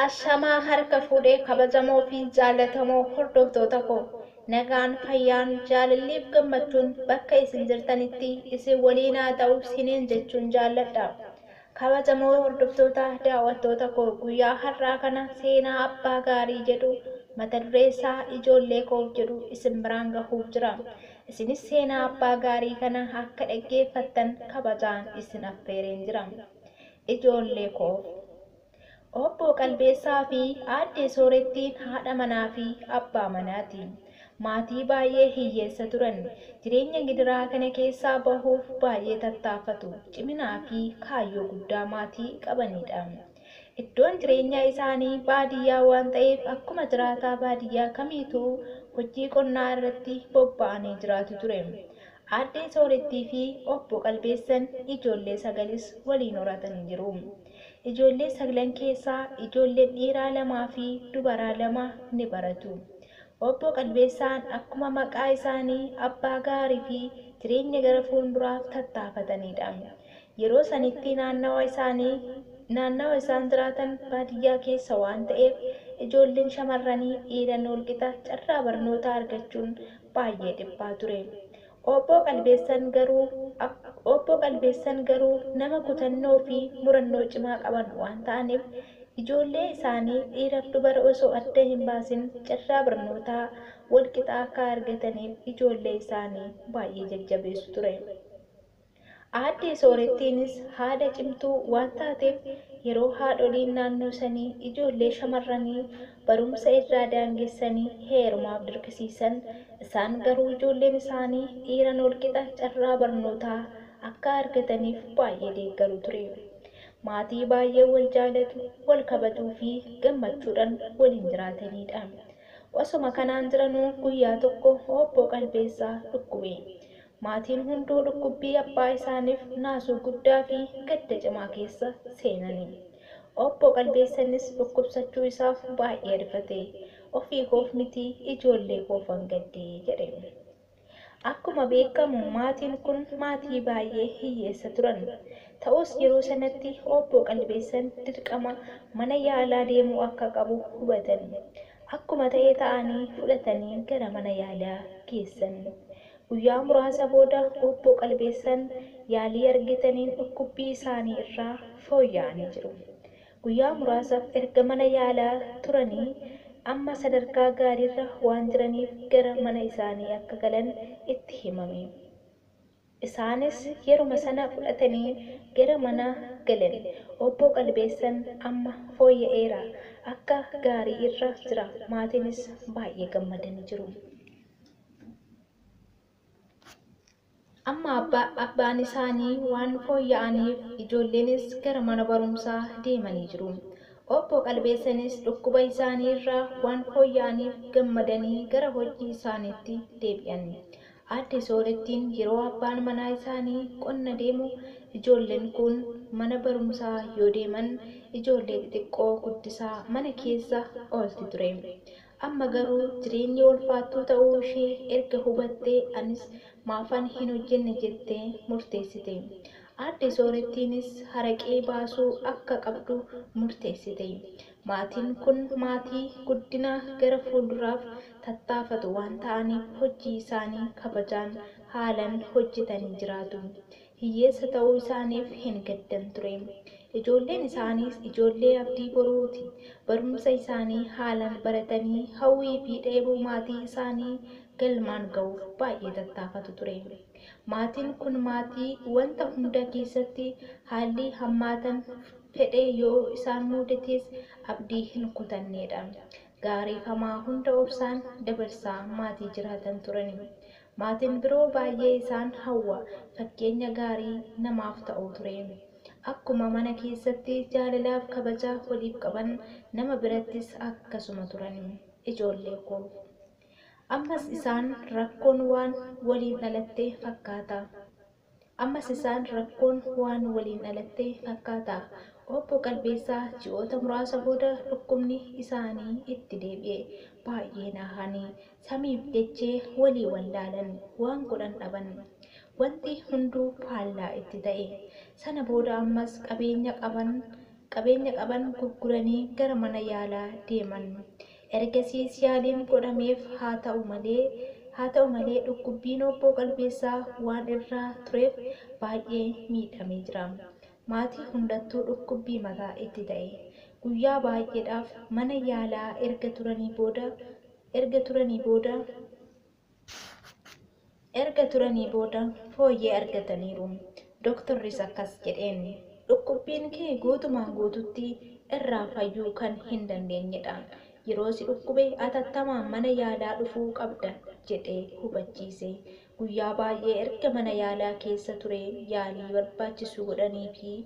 Ashamaa harka fuudhee kabajamoo fi jaallatamoo hordoftoota koo nagaan fayyaan jaalalliif gammachuun bakka isin jirtanitti isin waliin haa ta'u siniin jechuun jaalladha kabajamoo hordoftoota daawwattoota koo guyyaa har'aa kana seenaa abbaa gaarii jedhu mata dureessaa ijoollee koof jedhu isin biraan gahuuf jira isinis seenaa abbaa gaarii kana akka dhaggeeffattan kabajaan isin affeereen jira. Ijoollee koo! Obboo Qalbeessaa fi Aaddee Soorettiin haadha manaa fi abbaa manaati. Maatii baay'ee hiyyeessa turan. Jireenya gidiraa kana keessaa bahuuf baay'ee tattaafatu. Ciminaa fi kaayyoo guddaa maatii qabaniidha. Iddoon jireenyaa isaanii baadiyyaa waan ta'eef akkuma jiraataa baadiyyaa kamiituu hojii qonnaa irratti bobba'anii jiraatu ture. Aaddee Soorettii fi Obbo Qalbeessan ijoollee sagalis waliin horatanii jiru. Ijoollee saglan keessaa ijoolleen dhiiraa lamaa fi dubaraa lama ni baratu. Obbo Qalbeessaan akkuma maqaa isaanii abbaa gaarii fi jireenya gara fuunduraaf tattaafataniidha. Yeroo sanitti naannawa isaanii naannawa isaan jiraatan baadiyyaa keessa waan ta'eef ijoolleen shamarranii dhiiran walqixa carraa barnootaa argachuun baay'ee dhiphaa ture. Obboo Qalbeessan garuu Obboo Qalbeessan garuu nama kutannoo fi murannoo cimaa qaban waan ta'aniif ijoollee isaanii dhiiraf dubara osoo adda hin baasin carraa barnootaa wal qixaa akka argataniif ijoollee isaanii baay'ee jajjabeessu ture. Aaddee Soorettiinis haadha cimtuu waan taateef yeroo haadholiin naannoo sanii ijoollee shamarranii barumsa irraa daangessanii heerumaaf dirqisiisan isaan garuu ijoolleen isaanii dhiiran walqixa carraa barnootaa akka argataniif baay'ee deeggaru ture. Maatii baay'ee wal jaalatu, wal kabajuu fi gammachuudhan waliin jiraataniidha. Osoma kanaan jiranuu guyyaa tokko Obboo Qalbeessaa dhukkube. Maatiin hunduu dhukkubbii abbaa isaaniif naasuu guddaa fi gadda cimaa keessa seenani. Obbo Qalbeessanis dhukkubsachuu isaaf baay'ee rifate. Ofii koof miti ijoollee koofan gadde, jedhe. Akkuma beekamu maatiin kun maatii baay'ee hiyyeessa turan. Ta'us yeroo sanatti Obbo Qalbeessan dirqama mana yaalaa deemuu akka qabu hubatan. Akkuma ta'e ta'anii fudhatanii gara mana yaalaa geessan. Guyyaa muraasa booda Obbo Qalbeessan yaalii argitaniin dhukkubbii isaanii irraa fooyya'anii jiru. Guyyaa muraasaf erga mana yaalaa turanii amma sadarkaa gaariirra waan jiraniif gara mana isaanii akka galan itti himame. Isaanis yeruma sana fudhatanii gara mana galan. Obbo Qalbeessan amma fooyya'eera, akka gaarii irra jira, maatiinis baay'ee gammadanii jiru. Amma abbaan isaanii waan fooyya'aniif ijoolleenis gara mana barumsaa deemanii jiru. Obbo Qalbeessanis dhukkuba isaanii irraa waan fooyya'aniif gammadanii gara hojii isaaniitti deebi'an. Aadde Soorettiin yeroo abbaan manaa isaanii qonna deemu ijoolleen kun mana barumsaa yoo deeman ijoollee xixiqqoo guddisaa mana keessa oolti ture. Amma garuu jireenyi ulfaattuu ta'uu ishee erga hubattee anis maafan hin hojjenne jettee murteessite. Aadde Soorettiinis haraqee baasuu akka qabdu murteessite. Maatiin kun maatii guddina gara fuulduraaf tattaafatu waan ta'aniif hojjii isaanii kabajaan haalan hojjetanii jiraatu. Hiyyeessa ta'uu isaaniif hin gaddan ture. Ijoolleen isaaniis ijoollee abdii boruu ti. Barumsa isaanii haalaan baratanii hawwii fi dheebuu maatii isaanii galmaan ga'uuf baay'ee tattaafatu ture. Maatiin kun maatii wanta hunda keessatti haallii hammaatan fedhee yoo isaan muudatees abdii hin kutannee dha. Gaariifamaa hunda obsaan dabarsaa maatii jiraatan turani. Maatiin biroo baay'ee isaan hawwa, fakkeenya gaarii namaaf ta'u ture. Akkuma mana keessatti jaalalaaf kabaja waliif qaban, nama birattis akkasuma turan. Ijoollee koof. Ammas isaan rakkoon waan waliin dhalatte fakkaata. Ammas isaan rakkoon waan waliin dhalatte fakkaata. Obbo Qalbeessaa ji'oota muraasa booda dhukkubni isaanii itti deebi'e. Baay'ee naahani. Samiif dachee walii wallaalan. Waan godhan dhaban. Wanti hunduu faallaa itti ta'e. Sana booda ammas qabeenya qaban qabeenya qaban gurguranii gara mana yaalaa deeman. Ergasiis yaaliin godhameef haa ta'u malee haa ta'u malee dhukkubbiin Obboo Qalbeessaa waan irra tureef baay'ee miidhamee jira. Maatii hundattuu dhukkubbii mataa itti ta'e. Guyyaa baay'eedhaaf mana yaalaa erga turanii booda erga turanii booda Erga turanii booda fooyyee argataniiru. Doktorris akkas jedheen, Dhukkubbiin kee guutumaan guututti irraa fayyuu kan hin dandeenyedha. Yeroo si dhukkube atattamaan mana yaalaa dhufuu qabda jedhee hubachiise. Guyyaa baay'ee erga mana yaalaa keessa turee yaalii barbaachisu godhaniifii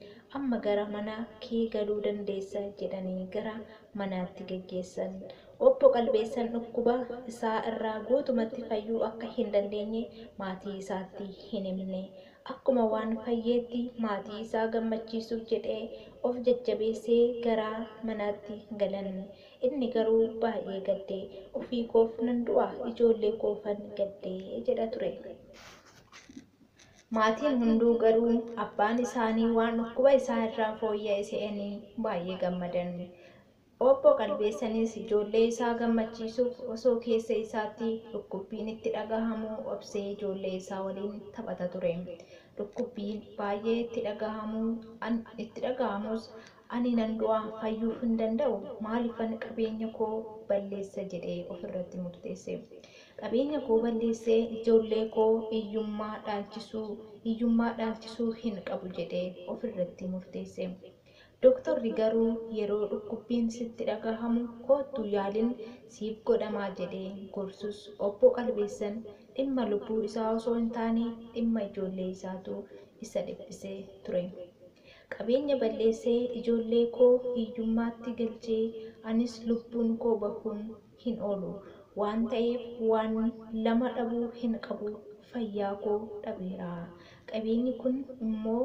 amma gara mana kee galuu dandeessa jedhanii gara manaatti geggeessan. Obbo Qalbeessan dhukkuba isaa irraa guutumatti fayyuu akka hin dandeenye maatii isaatti hin himne. Akkuma waan fayyeetti maatii isaa gammachiisuuf jedhee of jajjabeessee gara manaatti galan. Inni garuu baay'ee gadde. Ofii koof nan du'a, ijoollee koofan gadde jedha ture. Maatiin hunduu garuu abbaan isaanii waan dhukkuba isaa irraa fooyya'e se'anii baay'ee gammadan. Obbo Qalbeessanis ijoollee isaa gammachiisuuf osoo keessa isaatti dhukkubbiin itti dhagahamuu obsee ijoollee isaa waliin taphata ture. Dhukkubbiin baay'ee itti dhagahamu an itti dhagahamus ani nan du'a fayyuuf hin danda'u maaliifan qabeenya koo balleessa jedhee of irratti murteesse. Qabeenya koo balleessee ijoollee koo iyyummaa dhaalchisuu iyyummaa dhaalchisuu hin qabu jedhee of irratti murteesse. Doktorri garuu yeroo dhukkubbiin sitti dhagahamu koottu yaalin siif godhamaa jedhee gorsus Obbo Qalbeessan dhimma lubbuu isaa osoo hin taane dhimma ijoollee isaatu isa dhiphisee ture. Qabeenya balleessee ijoollee koo hiyyummaatti galchee anis lubbuun koo bahuun hin oolu waan ta'eef waan lama dhabuu hin qabu fayyaa koo dhabeera qabeenyi kun immoo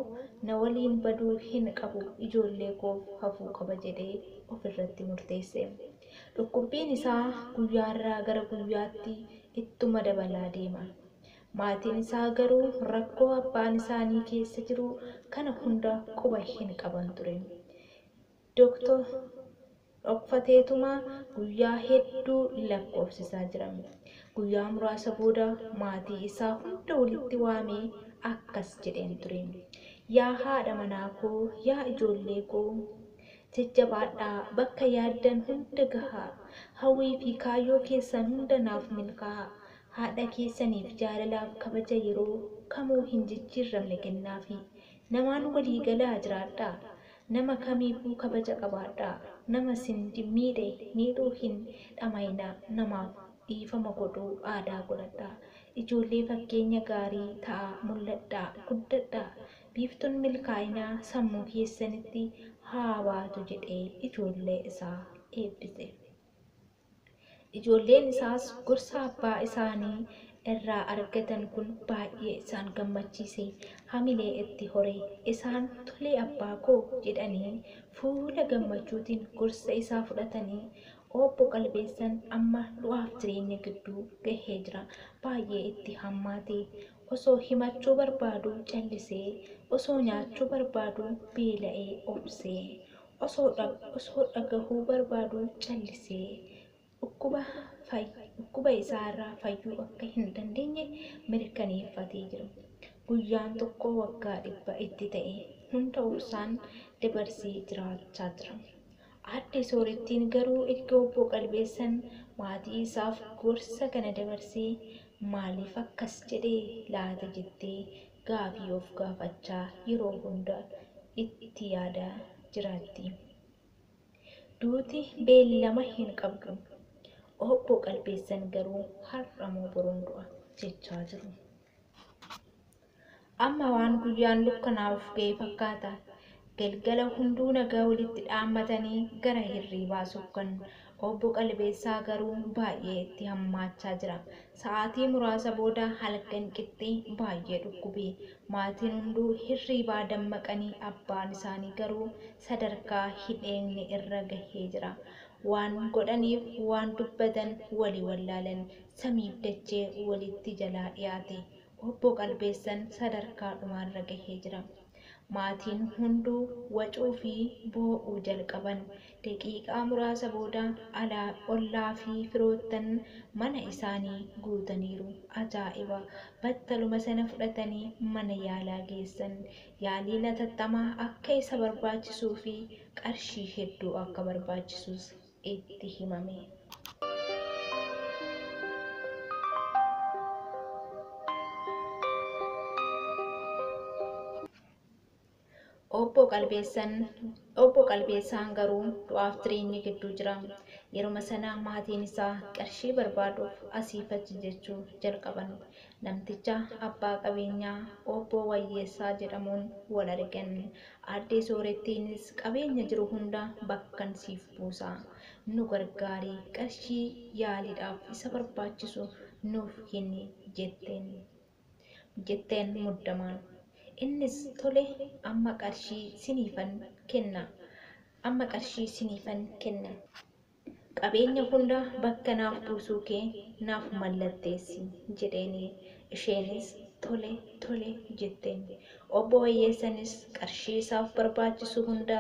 na waliin baduu hin qabu ijoollee koof hafuu qaba jedhee of irratti murteesse. Dhukkubbiin isaa guyyaarraa gara guyyaatti ittuma dabalaa deema. Maatiin isaa garuu rakkoo abbaan isaanii keessa jiru kana hunda quba hin qaban ture. Doktor, Dhokfateetuma guyyaa hedduu lakkoofsisaa jira. Guyyaa muraasa booda maatii isaa hunda walitti waamee akkas jedheen ture, Yaa haadha manaa koo, yaa ijoollee koo, jajjabaadhaa, bakka yaaddan hunda gahaa, hawwii fi kaayyoo keessan hunda naaf milkaa'aa, haadha keessaniif jaalalaaf kabaja yeroo kamuu hin jijjiirramne kennaafii, namaan walii galaa jiraadhaa, Nama kamiifuu kabaja qabaadhaa. Nama isin miidhe miidhuu hin dhama'inaa. Namaaf dhiifama godhuu aadaa godhadhaa. Ijoollee fakkeenya gaarii ta'aa mul'adhaa, guddadhaa. Biiftuun milkaa'inaa sammuu keessanitti haa baatu jedhee ijoollee isaa eebbise. Ijoolleen isaas gorsa abbaa isaanii irraa argatan kun baay'ee isaan gammachiise, hamilee itti hore. Isaan, Tole abbaa koo! jedhanii fuula gammachuutiin gorsa isaa fudhatanii, Obbo Qalbeessan amma du'aaf jireenya gidduu gahee jira. Baay'ee itti hammaate. Osoo himachuu barbaaduu callisee, osoo nyaachuu barbaaduu beela'ee obse. osoo dhagahuu barbaaduu callisee dhukkuba isaa irraa fayyuu akka hin dandeenye mirkaneeffatee jira. Guyyaan tokko waggaa dhibba itti ta'e hunda obsaan dabarsee jiraachaa jira. Aadde Soorettiin garuu erga obbo Qalbeessan maatii isaaf gorsa kana dabarsee maaliif akkas jedhe laata jettee gaafii of gaafachaa yeroo hunda itti yaadaa jiraatti. Duuti beellama hin qabdu. Obbo Qalbeessan garuu har'a moo boruun du'a jechaa jiru. Amma waan guyyaan dukkanaa'uuf ga'e fakkaata. Galgala hunduu nagaa walitti dhaammatanii gara hirriibaa sokkan. Obbo Qalbeessaa garuu baay'ee itti hammaachaa jira. Sa'aatii muraasa booda halkan qixxee baay'ee dhukkube. Maatiin hunduu hirriibaa dammaqanii abbaan isaanii garuu sadarkaa hin eegne irra gahee jira. Waan godhaniif waan dubbatan wali wallaalan. Samiif dachee walitti jalaa dhiyaate. Obbo Qalbeessan sadarkaa dhumaarra gahee jira. Maatiin hunduu wacuu fi boo'uu jalqaban. Daqiiqaa muraasa booda alaa ollaa fi firoottan mana isaanii guutaniiru. Ajaa'iba! Battaluma sana fudhatanii mana yaalaa geessan. Yaaliin hatattamaa akka isa barbaachisuu fi qarshii hedduu akka barbaachisus. itti himame. Obbo Qalbeessan Obbo Qalbeessaan garuu du'aaf jireenya gidduu jira. Yeruma sana maatiin isaa qarshii barbaaduuf asiif achi jechuu jalqaban. Namticha abbaa qabeenyaa Obboo Wayyeessaa jedhamuun wal argan. Aaddee Soorettiinis qabeenya jiru hunda bakkan siif buusa. Nu gargaari. Qarshii yaaliidhaaf isa barbaachisu nuuf kenni jetteen. Jetteen muddamaan. Innis tole amma qarshii siniifan kenna. Amma qarshii siniifan kenna. Qabeenya hunda bakka naaf buusuu kee naaf mallatteessi, jedheeni. Isheenis tole, tole, jetteen. Obbo Wayyeessanis qarshii isaaf barbaachisu hunda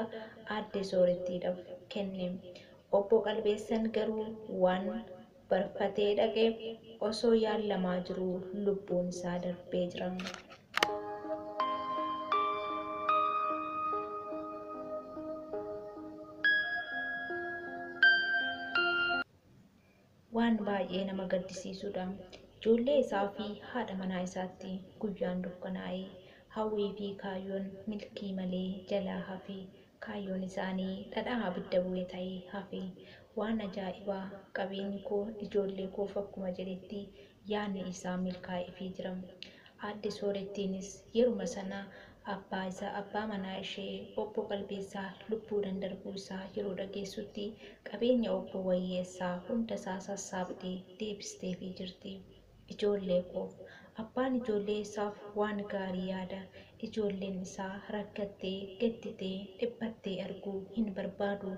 Aadde Soorettiidhaf kenne. Obbo Qalbeessan garuu waan barfatee dhaqeef osoo yaallamaa jiruu lubbuun isaa darbee jira. waan baay'ee nama gaddisiisudha. Ijoollee isaa fi haadha manaa isaatti guyyaan dukkanaa'e. Hawwii fi kaayyoon milkii malee jalaa hafe. Kaayyoon isaanii dhadhaa abidda bu'e ta'e hafe. Waan ajaa'ibaa qabeenyi koo ijoollee koof akkuma jedhetti yaadni isaa milkaa'eefii jira. Aadde Soorettiinis yeruma sana abbaa isaa, abbaa manaa ishee Obbo Qalbeessaa lubbuudhan darbuu isaa yeroo dhageessutti qabeenya Obbo Wayyeessaa hunda isaa sassaabdee deebisteefii jirti. Ijoollee koof. Abbaan ijoollee isaaf waan gaarii yaada. Ijoolleen isaa rakkattee, gadditee, dhiphattee arguu hin barbaadu.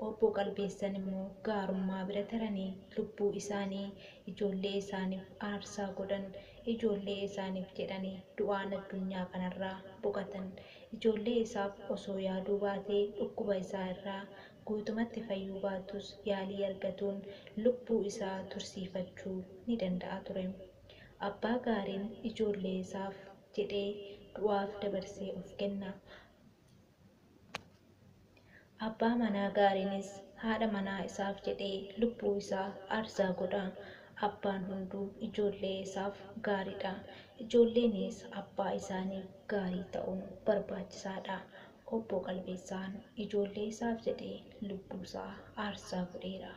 Obbo Qalbeessan immoo gaarummaa bira taranii lubbuu isaanii ijoollee isaaniif aarsaa godhan, ijoollee isaaniif jedhanii du'aan addunyaa kanarraa boqatan. Ijoollee isaaf osoo yaaduu baatee dhukkuba isaa irraa guutumatti fayyuu baatus yaalii argatuun lubbuu isaa tursiifachuu ni danda'a ture. Abbaa gaariin ijoollee isaaf jedhee du'aaf dabarsee of kenna. Abbaa manaa gaariinis haadha manaa isaaf jedhee lubbuu isaa aarsaa godha. Abbaan hunduu ijoollee isaaf gaariidha. Ijoolleenis abbaa isaaniif gaarii ta'uun barbaachisaadha. Obbo Qalbeessaan ijoollee isaaf jedhee lubbuu isaa aarsaa godheera.